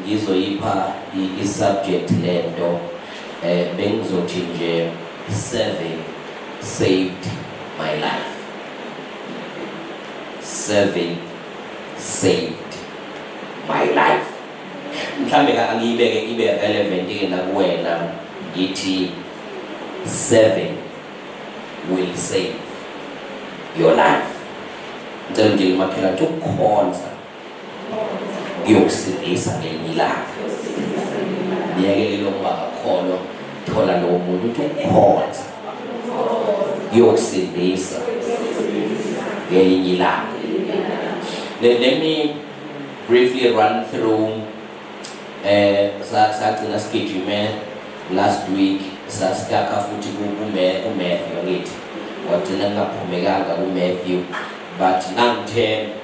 Ngizoyipha i-subject lento eh bengizothi nje serving saved my life. Serving saved my life. Mhlambe ka angiyibeke ibe relevant ke nakuwena ngithi serving will save your life. Ngicela nje limakhela to khonza ngiyokusindisa ngelinye ilanga niyekelele ukuba ngakholwa thola lowo muntu ukuthi ukhonza ngiyokusindisa ngelinye ilanga then let me briefly run through eh sagcina sigijime last week sasitaka futhi kume uMatthew ngithi wagcina kungaphumekanga uMatthew but nangithe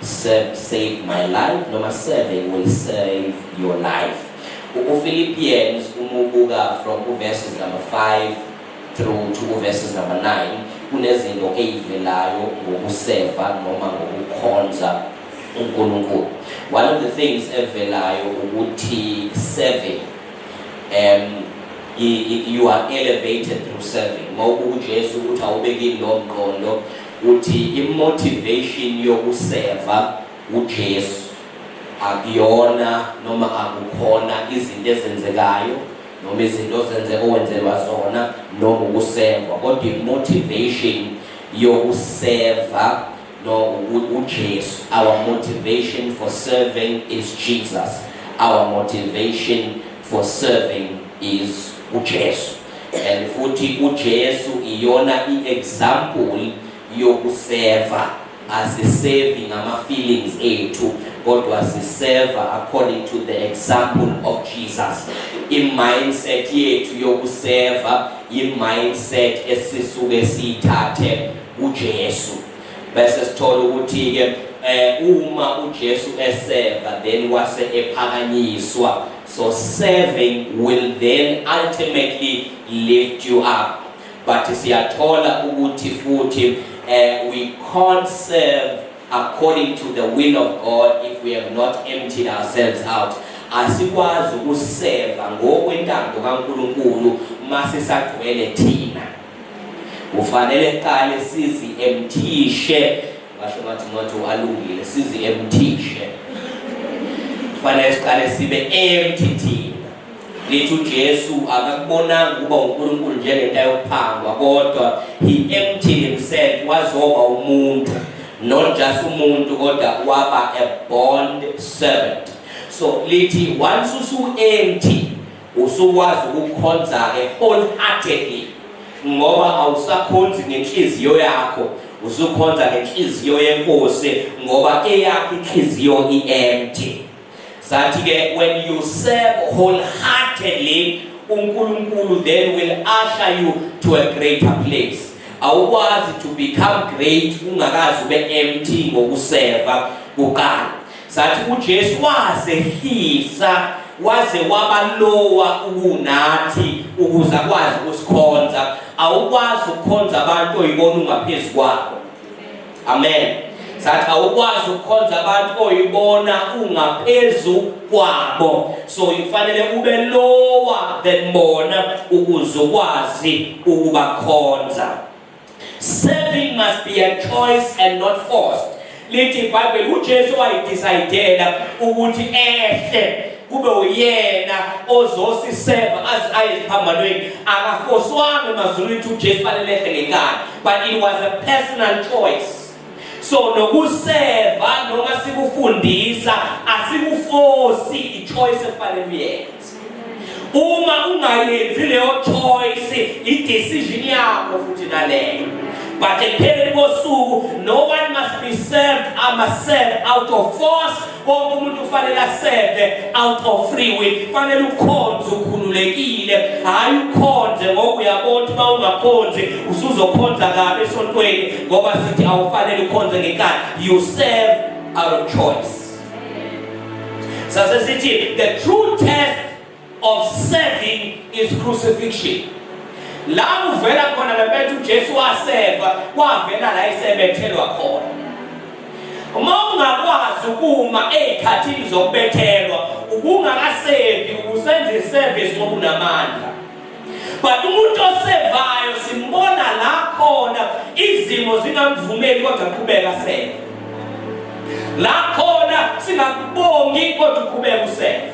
Serve saved my life noma serving will save your life. UFilippians umubuka from uverses number 5 through to uverses number 9 kunezinto eyivelayo ngokuseva noma ngokukhonza uNkulunkulu. One of the things evelayo ukuthi serving um you are elevated through serving. Mawubuka uJesu ukuthi awubekile lo mqondo Uthi i motivation yokuseva uJesu akuyona noma akukhona izinto ezenzekayo noma izinto ozenze owenzelwa zona noma ukuseva kodwa i motivation yokuseva no uJesu our motivation for serving is Jesus our motivation for serving is uJesu and futhi uJesu iyona iexample yokuseva asisevi ngama feelings ethu kodwa siseva according to the example of Jesus imindset yethu yokuseva imindset esisuke siyithathe uJesu bese sithola ukuthi ke eh uma uJesu eseva then wase ephakanyiswa so serving will then ultimately lift you up but siyathola ukuthi futhi eh we can't serve according to the will of God if we have not emptied ourselves out asikwazi ukuseva ngokwentando kaNkuluNkulu masisagcwele thina Kufanele kuqale sizi emthishe basho bathi ngathi alungile sizi emthishe kufanele siqale sibe empty thina lithi uJesu akakubonanga ukuba uNkulunkulu njengento ayophangwa kodwa he emptied himself wazoba umuntu not just umuntu kodwa waba a bond servant so lithi once usu empty Usukwazi ukukhonza-ke wholeheartedly ngoba awusakhonzi ngenhliziyo yakho usukhonza ngenhliziyo yenkosi ngoba eyakho inhliziyo i-empty sathi-ke when you serve wholeheartedly unkulunkulu then will usher you to a greater place awukwazi to become great ungakazi ube empty ngokuseva kuqala Sathi uJesu wazehlisa waze wabalowa ukunathi ukuze akwazi ukusikhonza awukwazi ukukhonza abantu oyibona ungaphezu kwabo amen sathi awukwazi ukukhonza abantu oyibona ungaphezu kwabo so ufanele ube lowa than bona ukuze ukwazi ukubakhonza Serving must be a choice and not forced. Lithi iBhayibheli uJesu wayidecidela ukuthi ehle kube uyena ozosiseva aze aye eziphambanweni akafoswanga emazulwini ukuthi uJesu fanele ehle ngenkani but it was a personal choice so nokuseva noma sikufundisa asikufosi i-choice efanele uyenze uma ungayenzi leyo choice i-decision yakho futhi naleyo but ekupheleni kosuku no one must be served ama serve out of force wonke umuntu ufanele aseve out of free will fanele ukhonze ukhululekile hhayi ukhonze ngoba uyabona ukuthi uma ungakhonzi usuzokhonza kabi esontweni ngoba sithi awufanele ukhonze ngenkani you serve out of choice sase sithi the true test of serving is crucifixion la kuvela khona lempethu uJesu waseva kwavela la isebethelwa khona uma ungakwazi ukuma ezikhathini zokubethelwa ubungakasevi usenze iservice ngokunamandla but umuntu osevayo simbona la khona izimo zingamvumeli kodwa qhubeka seve la khona singakubongi kodwa uqhubeka useve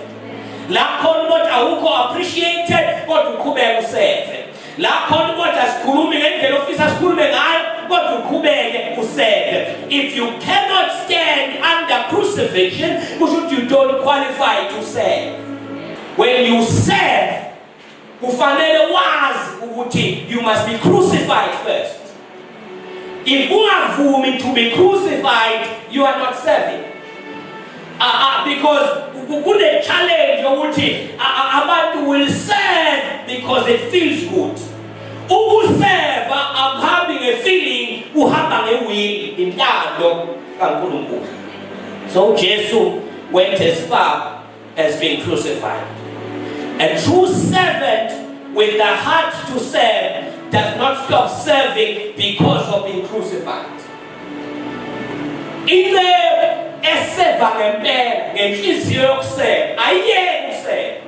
la khona ukuthi awukho appreciated kodwa uqhubeka useve la khona ukuthi asikhulumi ngendlela ofisa sikhulume ngayo kodwa uqhubeke useve if you cannot stand under crucifixion kusho ukuthi you don't qualify to serve When you serve, kufanele wazi ukuthi you must be crucified first. If ungavumi to be crucified, you are not serving. Uh, uh, because kune challenge yokuthi abantu will serve because it feels good ukuseva akuhambi ngefeeling uhamba ngewili intando kaNkulunkulu so Jesu went as far has been crucified. A true servant with the heart to serve does not stop serving because of being crucified. Into eseva ngempela ngenhliziyo yokuseva ayiyeki useva.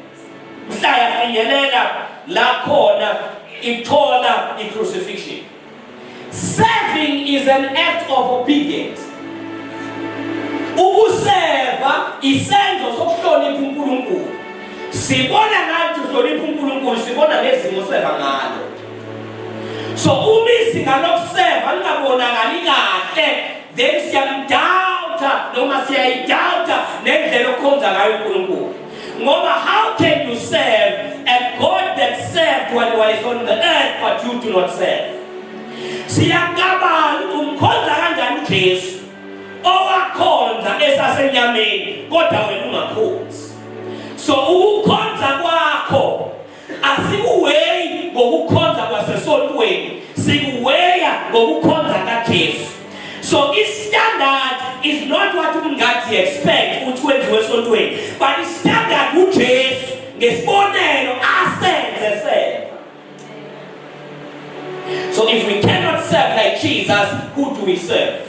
Mhla yafinyelela la khona ithola i-crucifixion. Serving is an act of obedience. Ukuseva isenzo sokuhlonipha uNkulunkulu. Sibona ngathi uhlonipha uNkulunkulu, sibona ngezimo seva ngalo. So uma izinga lokuseva lingabonakali kahle, then siyamdawutha noma siyayidawutha nendlela okhonza ngayo uNkulunkulu. Ngoba how can you serve a God that served when he is on the earth but you do not serve? Siyakabala umkhonza kanjani uJesu owakhonza esasenyameni kodwa wena ungakhonzi. So ukukhonza kwakho Asikuweyi ngokukhonza kwasesontweni, sikuweya ngokukhonza kaJesu. So istandard is not what umngadi expect ukuthi kwenziwe esontweni, but istandard uJesu ngesibonelo asenze sena. So if we cannot serve like Jesus, who do we serve?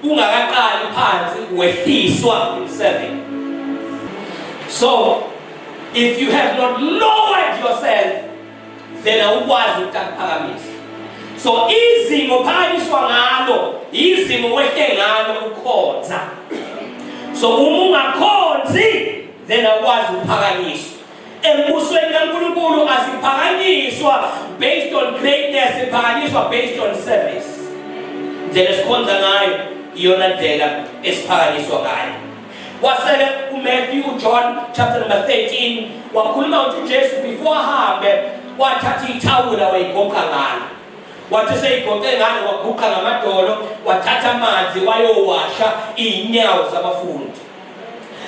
kungakaqali phansi wehliswa emsebenzini so if you have not lowered yourself then awukwazi ukuphakamisa so izingo phakanyiswa ngalo izingo wehle ngalo ukhonza so uma ungakhonzi then awukwazi ukuphakanyiswa Embusweni kaNkulunkulu asiphakanyiswa based on greatness, siphakanyiswa based on service. Ndlela esikhonza ngayo iyona ndlela esiphakanyiswa ngayo. Wasele uMatthew John chapter number 13 wakhuluma ukuthi uJesu before ahambe wathatha ithawula wayigoqa ngalo. Wathi seyigoqe ngalo waguqa ngamadolo wathatha amanzi wayowasha izinyawo zabafundi.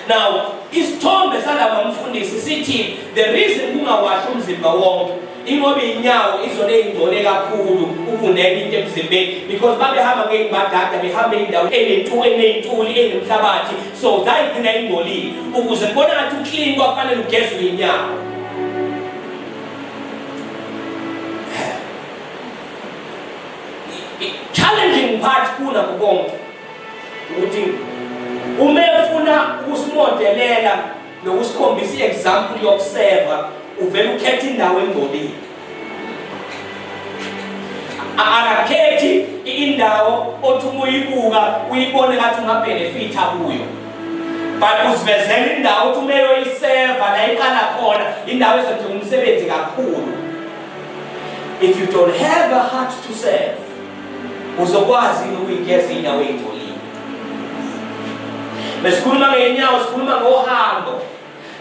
Now, isithombe salaba mfundisi sithi the reason kungawashi umzimba wonke ingoba inyawo izona ey'ngcole kakhulu ukunenye into emzimbeni because babehamba ngey'mbadada behamba indawo eney'ntuli enemhlabathi so zayigcina ingcolile ukuze kubona ngathi uklini kwafanele ugezwe inyawo challenging part kuna kukonke ukuthi uma efuna ukusimodelela nokusikhombisa i-example yokuseva uvele ukhetha indawo engcolile akakhethi indawo othi uma uyibuka uyibone ngathi ungabhenefitha kuyo but usivezela indawo othi uma eyoyiseva la iqala khona indawo ezodinga umsebenzi kakhulu if you don't have a heart to serve Uzokwazi yini ukuyigeza inyawo eyingcolile? Besikhuluma ngeyinyawo, sikhuluma ngohambo.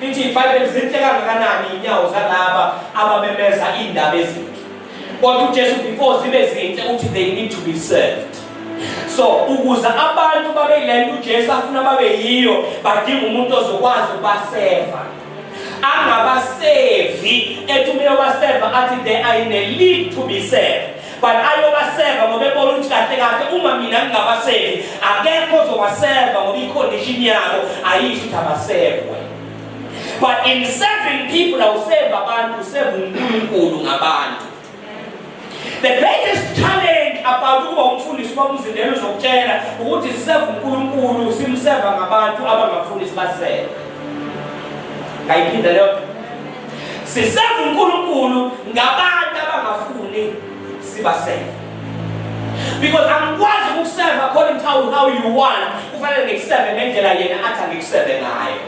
Lithi iBhayibheli zinhle kangakanani inyawo zalaba abamemeza indaba ezinhle. Kodwa uJesu before zibe zinhle uthi they need to be served. so ukuze abantu babe yile nto ujesu afuna babe yiyo badinga umuntu ozokwazi ukubaseva angabasevi ethi uma yobaseva athi they are in a league to be served but ayobaseva ngoba ebona ukuthi kahle kahle uma mina ngingabasevi akekho ozobaseva ngoba icondition yabo ayisho ukuthi abasevwe but in serving people awuseva abantu useva unkulunkulu ngabantu the greatest challenge about ukuba umfundisi uba umzindelo uzokutshela ukuthi siseva unkulunkulu simseva ngabantu abangafundisi baseve ngayiphinda leyo Siseva uNkulunkulu ngabantu abangafuni sibaseva. Because angikwazi ukuseva according to how you want, kufanele ngikuseve ngendlela yena athi angikuseve ngayo.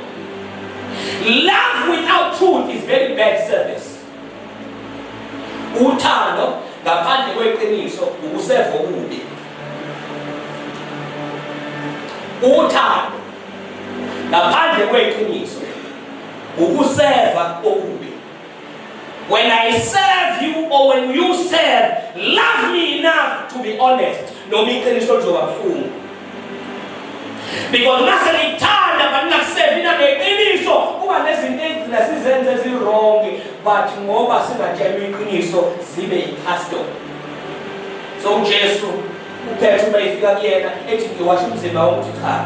Love without truth is very bad service. Uthando ngaphandle kweqiniso ukuseva okubi. Uthando ngaphandle kweqiniso ukuseva okubi when i serve you or when you serve love me enough to be honest noma iqiniso lizoba buhlungu because uma senithanda but ningakusevi nangeqiniso kuba nezinto ezigcina sizenze eziwrong but ngoba singatshelwa iqiniso zibe yi-custom so ujesu uphetha uma efika kuyena ethi ngiwasha umzimba wokuthi cha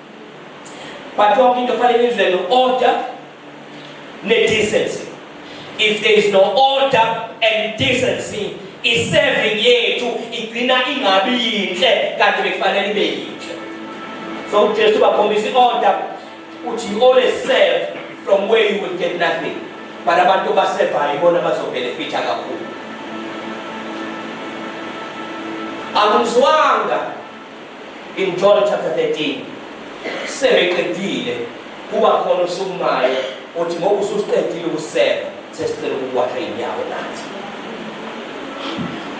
but yonke into fanele izwe no-order ne-decency if there is no order and decency i-serving yethu igcina ingabi yinhle kanti bekufanele ibe yinhle so ujesu bakhombisa i-order uthi you always serve from where you will get nothing but abantu basevayo ibona bazobhenefitha kakhulu akumzwanga In John chapter 13 sebeqedile kuba khona usukumayo uthi ngoba ususiqedile ukuseka sesicela ukuwasha inyawo nathi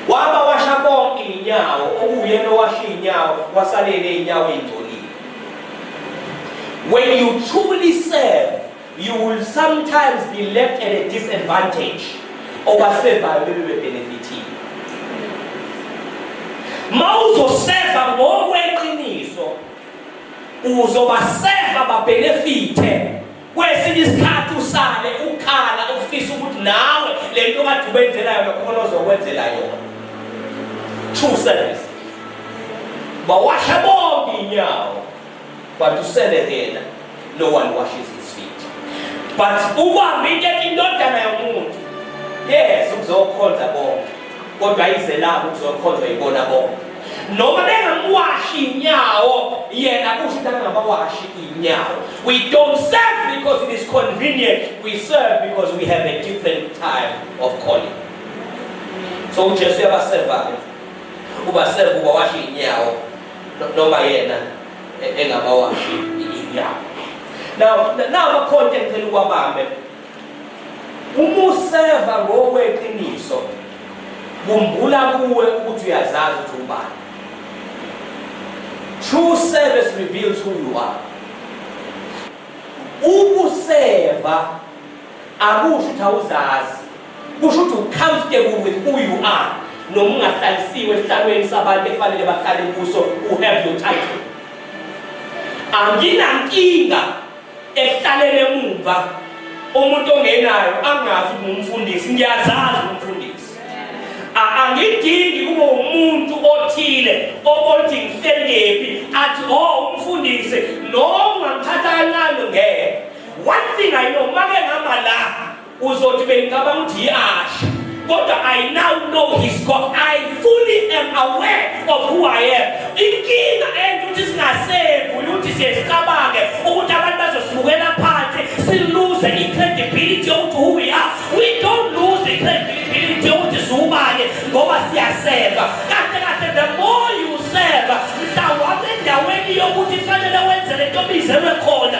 waba washa konke inyawo okuyena owasha inyawo wasalele inyawo ingcolile when you truly serve You will sometimes be left at a disadvantage obafevayo bebe bebenefithile. Mawuzoseva ngokweqiniso uzobaseva babenefithe kwesinye isikhathi usale ukhala ufisa ukuthi nawe le nto kade ubenzela yona khona ozokwenzela yona true service bawasha bonke inyawo but uselekela no one washes his feet but ubamba into indodana yomuntu yes ukuzokhonza bonke kodwa ayizelanga ukuzokhonzwa yibona bonke noma bengamwashi inyawo yena kusho ukuthi angabawashi inyawo we don't serve because it is convenient we serve because we have a different type of calling so ujesu uyabaseva-ke ubaseva ubawashe inyawo noma yena e-, engabawashi inyama now nawo akhonto engicela ukwabambe uma useva ngokweqiniso kumbula kuwe ukuthi uyazazi ukuthi ubani true service reveals who you are ukuseva akusho ukuthi awuzazi kusho ukuthi ucomfortable with who you are noma ungahlalisiwe esihlalweni sabantu efanele bahlale kuso u have your title anginankinga ehlalele emumva umuntu ongenayo angazi ngumfundisi ngiyazazi umfundisi angidingi kube umuntu othile obothi ngihleliphi athi o oh, umfundisi noma ngithatha kancane ngeke One thing I know, make ngama la uzothi bengicabanga ukuthi yiyasha kodwa I now know his God. I fully am aware of who I am. Inkinga enza ukuthi singasevu ukuthi siyezicabange ukuthi abantu bazosibukela phansi siluze i-credibility yokuthi who we are. We don't lose the credibility yokuthi siwubani ngoba siyaseva. Kahle kahle the more you serve mhlawumbe endaweni yokuthi fanele wenze lento bizelwe khona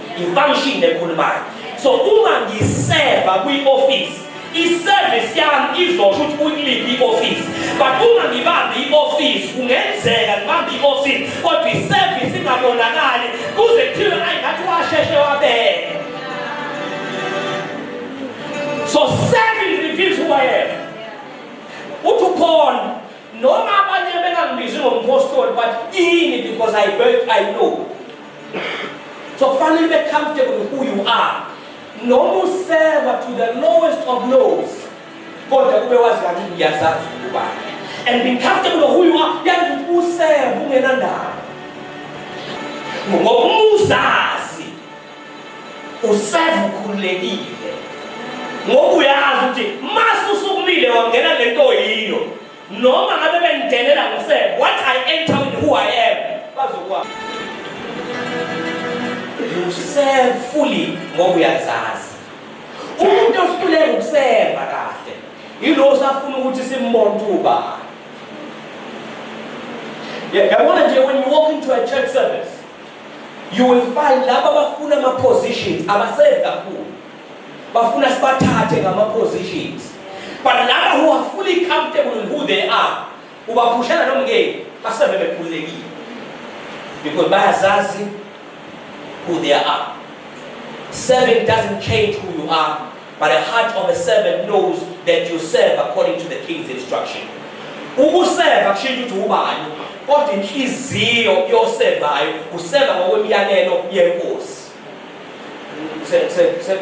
ifunction ekhulumayo so uma ngiseva kwi-office iservice yami izosho ukuthi kuyiliphi i-office but uma ngibambe i-office kungenzeka ngibambe i-office kodwa iservice ingabonakali kuze kuthiwe ayi ngathi washeshe wabele so serving reveals who I am uthi uphon noma abanye bengangibizi ngompostoli but ini because I, I know so kufanele ube comfortable with who you are noma useva to the lowest of lows kodwa kube wazi kathi ngiyazazi ukuba and be comfortable who you are yazi ukuthi useva ungenandaba ngoba umuzazi useva ukhululekile ngoba uyazi ukuthi masusukumile wangena lento yiyo Noma ngabe bengidelela ngose what I enter with who I am. Bazokwazi. You serve fully ngoba uyazazi. Umuntu ohluleka ukuseva kahle yilo osafuna ukuthi simbonke ubani. Yabona nje when you walk into a church service you will find laba abafuna ama positions abasevi kakhulu bafuna sibathathe ngama positions but laba who are fully comfortable in who they are ubaphushela lo mngeni basebe bekhululekile because bayazazi who they are serving doesn't change who you are but the heart of a servant knows that you serve according to the king's instruction ukuseva kushintsha ukuthi ubani kodwa inhliziyo yosevayo useva ngokwemiyalelo yenkosi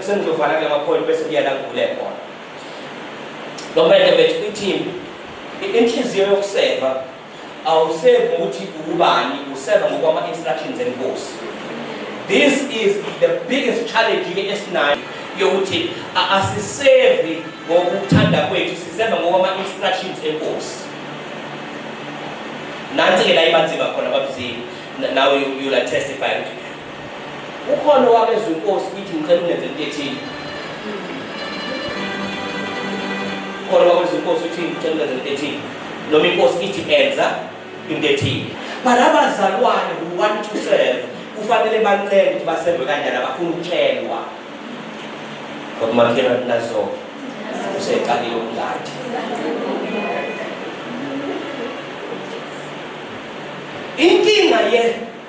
sengizovala kula mapholi bese kuya la ngivule khona nomele bethu kwi-team inhliziyo yokuseva awusevi ngokuthi ubani useva ngokwama-instructions enkosi this is the biggest challenge ke esinayo yokuthi asisevi ngokuthanda kwethu siseva ngokwama-instructions enkosi nansi-ke la ibanzima khona babuzile now you, you'll testify ukuthi Ukhona owabezwa inkosi ukuthi ngicela ungenze into ethile. Ukhona owabezwa inkosi ukuthi ngicela ungenze into ethile. Noma inkosi ithi enza into ethile. Bala abazalwane kuwani to serve kufanele bancele ukuthi baserve kanjani abafuna ukutshelwa. Kodwa makhela nazo useqalile ukungathi. Inkinga ye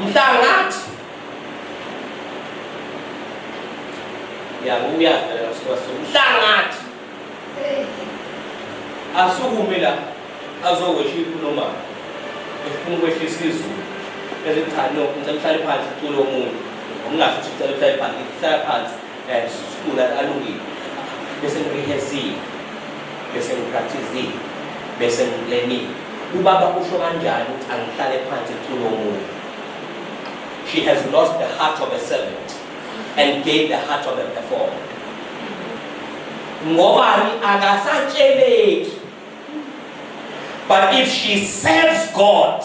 mhlangathi yakuya phela mhlangathi asukume la azokwesha ikhuluma efuna ukwehlisa izulu ezithi cha no ngicela uhlale phansi ucule omunye ngokungasho ukuthi ngicela uhlale phansi ngihlala phansi and sicula alungile bese ngirehearsile bese ngipracticile bese ngilenile ubaba usho kanjani ukuthi angihlale phansi kucula omunye she has lost the heart of a servant and gained the heart of a performer ngobani akasatsheleki but if she serves god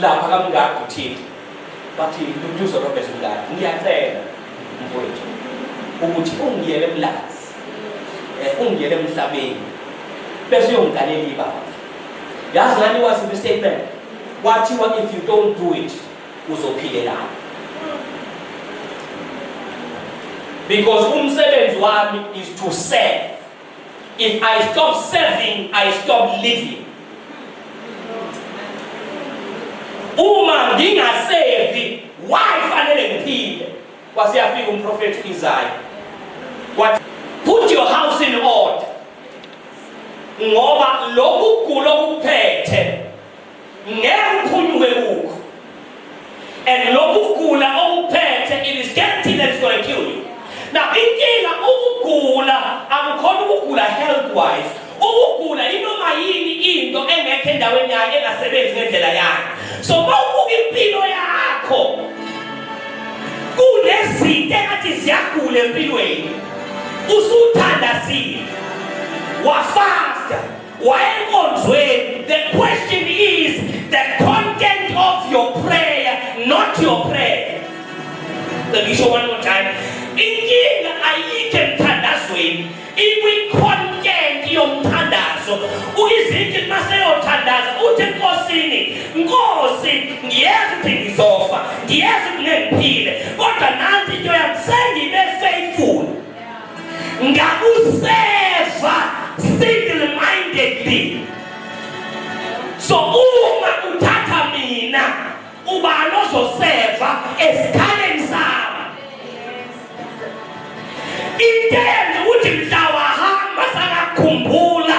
lapha kamngadi uthixo bathi mduduzo robert mngadi ngiyacela mfowethu ukuthi ungiyele emlazi eh, ungiyele emhlabeni bese uyongigalela ibandla yazi ngani wasiphi statement wathiwa if you don't do it uzophilelana because umsebenzi wami is to serve If I stop serving, I stop living. Uma ngingasevi, why fanele ngiphile? Wasiyafika umprofethi uIsaya. What? Put your house in order. Ngoba lokhu kulo kuphethe ngeke uphunyuke kukho and lokhu kugula okuphethe it is guaranteed that it's going to kill you now inkinga ukugula akukhona ukugula health wise ukugula inoma yini into engekho endaweni yayo engasebenzi ngendlela yayo so mawubuka impilo yakho kunezinto engathi ziyagula empilweni usuthandazile wafasta wayenkonzweni the question is the content of your prayer not your prayer ngisho one more time inkinga ayikho emthandazweni ikwi-content yomthandazo uyizinto maseyothandaza uthi enkosini nkosi ngiyazi ukuthi ngizofa ngiyazi ukuthi ngiphile kodwa nanti into yami sengibe faithful ngakuseva single mindedly so uma uthatha mina ubani ozoseva esikhaleni sami into eyenza ukuthi mhla wahamba sakakhumbula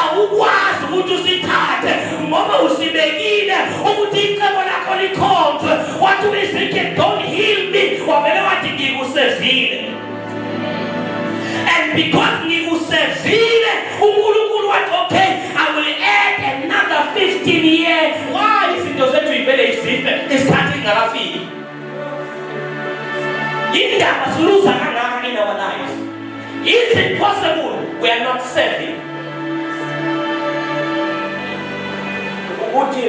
awukwazi ukuthi usithathe ngoba usibekile ukuthi icebo lakho likhonjwe wathi uyizinke don't heal me wavele wathi ngikusevile and because ngikusevile unkulunkulu wathi okay i will add another 15 year why izinto zethu ivele izife isikhathi ingakafiki Indaba siluza kangaka in our lives. Is it possible we are not serving? Ukuthi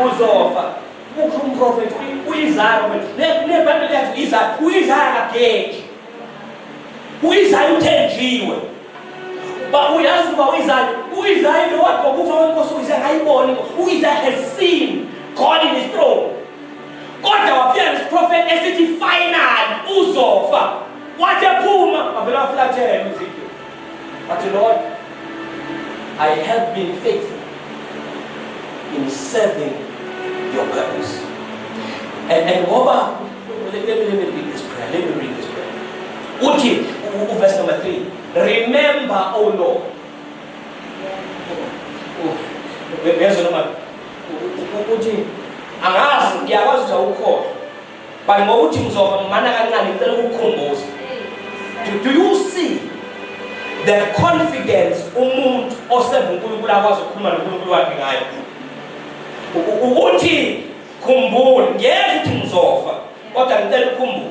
uzofa ukho umprofeti uyizaya nebhayibheli yathi izaya uyizaya kageji uyizaya uthenjiwe ba uyazi ukuba uyizaya uyizaya lo wakho kufa wenkosi uyizaya ayiboni uyizaya has seen God in his throne kodwa wafika nesiprofethi esithi final uzofa wathi ephuma wavele wafulathela ezekiel wathi lord i have been faithful in serving your purpose and, and ngoba let me, let me read this prayer let me read this prayer uthi uverse number 3 remember o oh lord Bese noma ukuthi angazi ngiyakwazi ukuthi awukhohlwa but ngokuthi ngizofa ngimana kancane ngicela ukukukhumbuza do, do you see the confidence umuntu oseva uNkulunkulu akwazi ukukhuluma noNkulunkulu wakhe ngayo ukuthi khumbula ngeke ukuthi ngizofa kodwa ngicela ukhumbule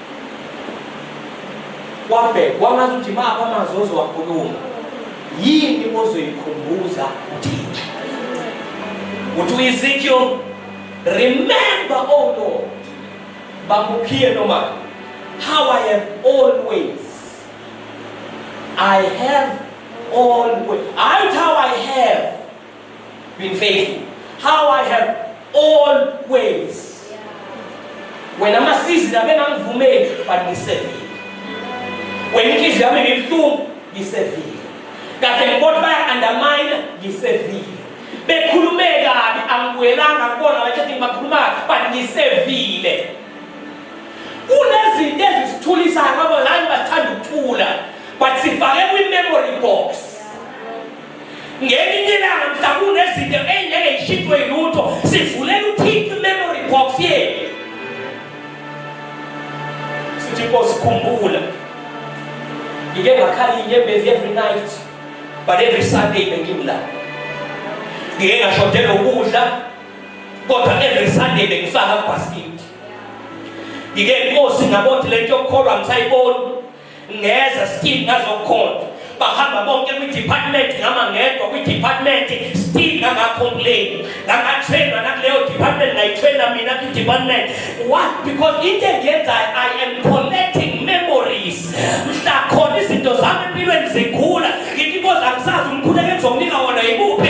kwabhekwa angazi ukuthi maphi amazwi ozowakhuluma yini ozoyikhumbuza uthixo uthi uyizikiyo remember o oh lord bamukhiye noma how i have always i have always hayi how i have Being faithful. How I have always. Wena amasizini abengangivumeli but ngisevile. Wena inhliziyo yami ibibuhlungu ngisevile. Kade ngibona baya-undermine ngisevile. Bekhulume kabi angibuyelanga kubona bathi ngibakhuluma but ngisevile. Kunezinto ezisithulisayo ngoba ngani basithanda ukuthula but sifake kwi-memory box. ngelinye ilanga mhlawumbe nezinto engeke yishintshwe yilutho sivulela uthixo imemory box yethu sithi nkosi khumbula ngike ngakhali inyembezi every night but every sunday bengimla ngike ngashodelwa ukudla kodwa every sunday bengifaka kubhasikidi ngike nkosi ngabothi le nto yokukholwa ngisayiboni ngeza still ngazokhonza bahamba bonke kwi-department ngama ngedwa kwi-department still ngangacomplain ngangatrainwa nakuleyo department ngayitraina mina kwi-department what because into engiyenzayo i am collecting memories mhla khona izinto zami empilweni zikhula ngithi inkozi angisazi umkhuleko engizomnika wona yimuphi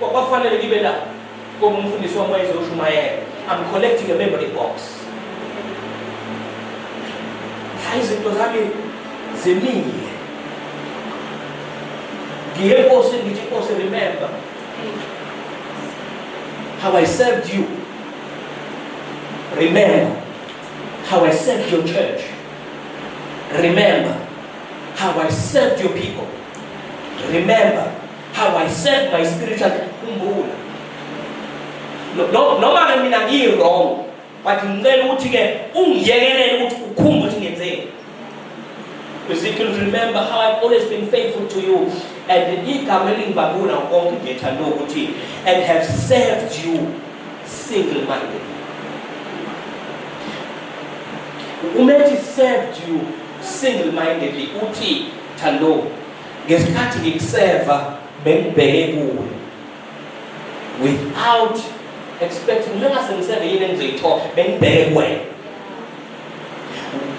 kwakufanele ngibe lapho ngoba umfundisi wami wayezoshumayela i'm collecting a memory box mhla izinto zami zimile ngiye enkosini ngithi inkosi remember how i served you remember how i served your church remember how i served your people remember how I serve my spiritual khumbula noma ke mina ngiyi wrong but ngicela ukuthi ke ungiyekelele ukuthi ukhumbe ukuthi ngenzeni Ezekiel remember how I've always been faithful to you and igama elingibabula konke ngiyethanda ukuthi and have served you single minded umethi served you single mindedly uthi thando ngesikhathi ngikuseva bengibheke kuwe without expecting njengoba sengiseve yini engizoyithola bengibheke kuwena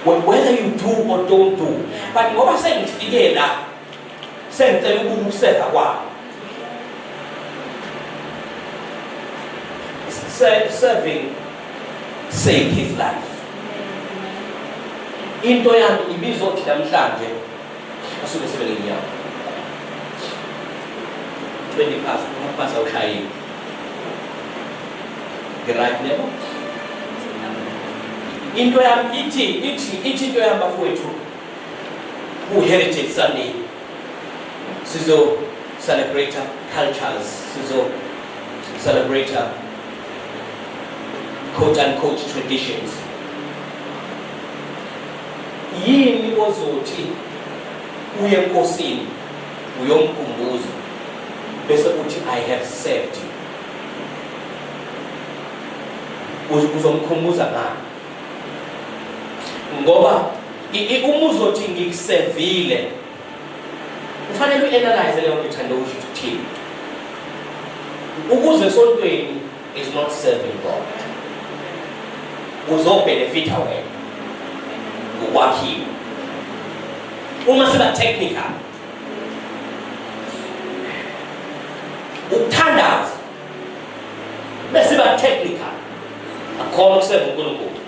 whether you do or don't do but ngoba sengifike la sengicela ukuba ukuseva kwami serving saved his life into yami ibizothi namhlanje asuke sebele nyawo 20 past umapasa ushayile ngiright nebo into yam ithi ithi ithi into yam bafowethu ku-heritage sunday sizo celebrate cultures sizo celebrate quote unquote traditions Yini ozothi uye enkosini uyomkhumbuza bese uthi i have served you uzomkhumbuza ngani ngoba uma uzothi ngikusevile kufanele uanalyze leyo nto ithanda ukusho ukuthini ukuze esontweni is not serving God uzobenefitha wena ngokwakhiwa uma siba technical ukuthandaza besiba technical akhona ukuseva uNkulunkulu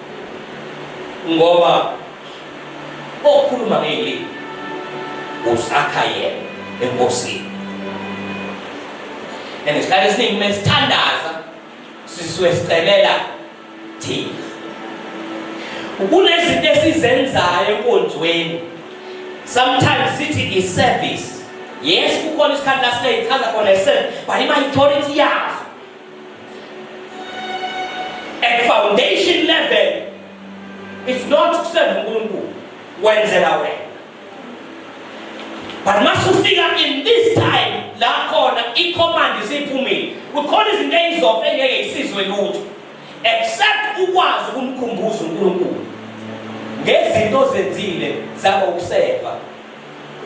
ngoba okhuluma ngeyilimi usakha yena enkosini and isikhathi esiningi uma sithandaza sisuke sicelela thina kunezinto esizenzayo enkonzweni sometimes sithi i-service yes kukhona isikhathi la sineyichaza khona i-service but ima-authority yazo At foundation level it's not kuserve uNkulunkulu wenzela wena. But masufika in this time la khona i command isiphumile. Kukhona izinto ezizofa engeke isizwe lutho except ukwazi ukumkhumbuza uNkulunkulu ngezinto zenzile zabo ukuseva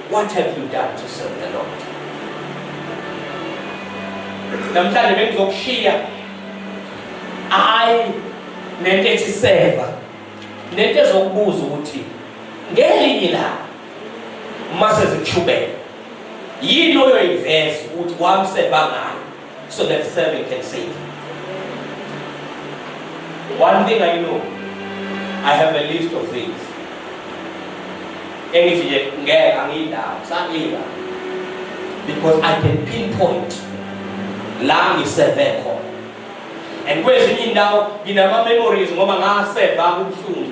What have you done to serve the Lord? Namhlanje bengizokushiya hayi nento ethi seva nento ezokubuza ukuthi ngelinye la uma sezikushubela yini oyoyiveza ukuthi wamseva ngayo so that seven can save. One thing I know, I have a list of things. Engithi nje ngeke angiyindawo, sangiya. Because I can pinpoint la ngiseve khona. And kwezinye indawo nginama memories ngoba ngaseva kubuhlungu.